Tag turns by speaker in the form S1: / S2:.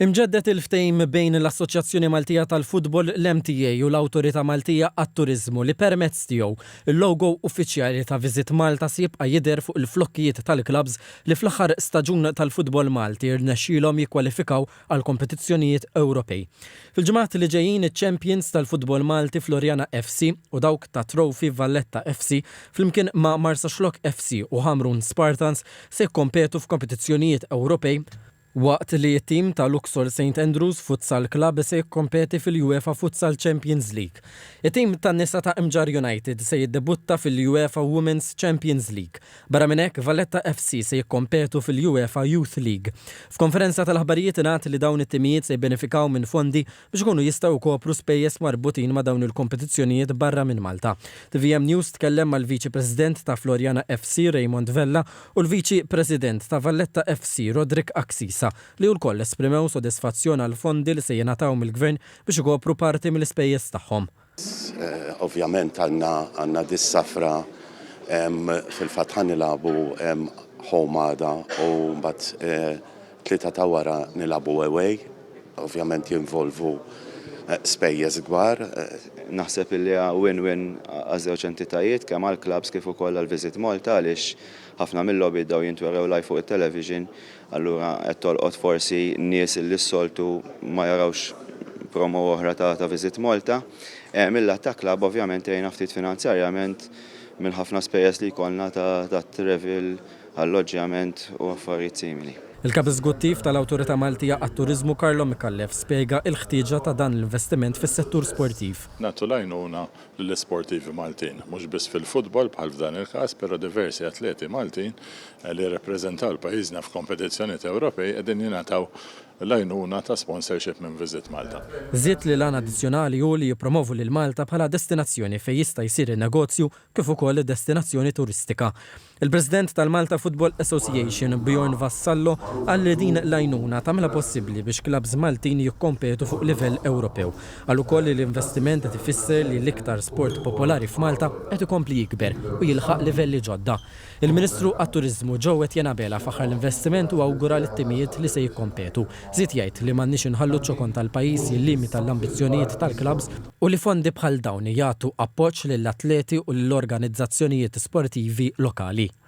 S1: Imġedded il-ftehim bejn l-Assoċjazzjoni Maltija tal-Futbol, l-MTA, u l-Awtorità Maltija għat-Turiżmu li permezz tiegħu l-logo uffiċjali ta' Visit Malta se jibqa' jidher fuq il-flokkijiet tal-klabbs li fl-aħħar staġun tal-futbol Malti rnexxielhom jikkwalifikaw għall-kompetizzjonijiet Ewropej. Fil-ġimgħat li ġejjin iċ-champions tal-futbol Malti Floriana FC u dawk ta' Trophy Valletta FC flimkien ma' Marsaxlokk FC u Ħamrun Spartans se jikkompetu f'kompetizzjonijiet Ewropej, waqt li t-tim ta' Luxol St Andrews Futsal Club se jikkompeti fil-UEFA Futsal Champions League. It-tim tan-nisa ta' Imġarr United se jiddebutta fil-UEFA Women's Champions League. Barra minn hekk, Valletta FC se jikkompetu fil-UEFA Youth League. F'konferenza tal-aħbarijiet ingħad li dawn it-timijiet se jibbenefikaw minn fondi biex ikunu jistgħu jkopru spejjeż marbutin ma' dawn il-kompetizzjonijiet barra minn Malta. Tvm News tkellem mal-Viċi President ta' Floriana FC Raymond Vella u l-Viċi President ta' Valletta FC Roderick Axisa li wlkoll esprimew sodisfazzjon għall-fondi li se jingħataw mill-Gvern biex ikopru parti mill-ispejjeż tagħhom.
S2: Ovvjament għandna għandna dis-safra fil-fatt ħa nilagħbu home għada u mbagħad tlieta ta' wara nilagħbu away. Ovvjament jinvolvu spejjeż kbar. Naħseb illi
S3: hija win-win għaż-żewġ entitajiet kemm għall-klabbs kif ukoll għal Visit Malta għaliex ħafna mil-logħbiet dawn jintwerew live fuq it-television Allura qed tolqot forsi nies li s-soltu ma jarawx promo oħra ta' ta' Visit Malta. Eh, mil-lat ta' club ovvjament għejna ftit finanzjarjament mill-ħafna spejjeż li jkollna ta' ta' travel, alloġġjament u affarijiet simili. Il-Kap Eżguttiv
S1: tal-Awtorità Maltija għat-Turiżmu Carlo Micallef spjega il-ħtieġa ta' dan l-investiment fis-settur sportiv. Nagħtu l-għajnuna
S4: lill-isportivi Maltin, mhux biss fil-futbol bħal f'dan il-każ, però diversi atleti Maltin li jirrappreżentaw pajjiżna f'kompetizzjonijiet Ewropej qegħdin jingħataw l-għajnuna ta' sponsorship minn Visit Malta. Żied li l-għan
S1: addizzjonali hu li jippromovu lil Malta bħala destinazzjoni fejn jista' jsir in-negozju kif ukoll destinazzjoni turistika. Il-President tal-Malta Football Association, Bjorn Vassallo, qal li din l-għajnuna tagħmilha possibbli biex klabbs Maltin jikkompetu fuq livell Ewropew. Qal ukoll li l-investiment qed ifisser li l-iktar sport popolari f'Malta qed ikompli jikber u jilħaq livelli ġodda. Il-Ministru għat-Turiżmu Joe Etienne Abela faħħar l-investiment u awgura lit-timijiet li se jikkompetu. Żied jgħid li m'għandniex inħallu ċ-ċokon tal-pajjiż jillimita l-ambizzjonijiet tal-klabbs. u li fondi bħal dawn jagħtu appoġġ lill-atleti u lill-organizzazzjonijiet sportivi lokali.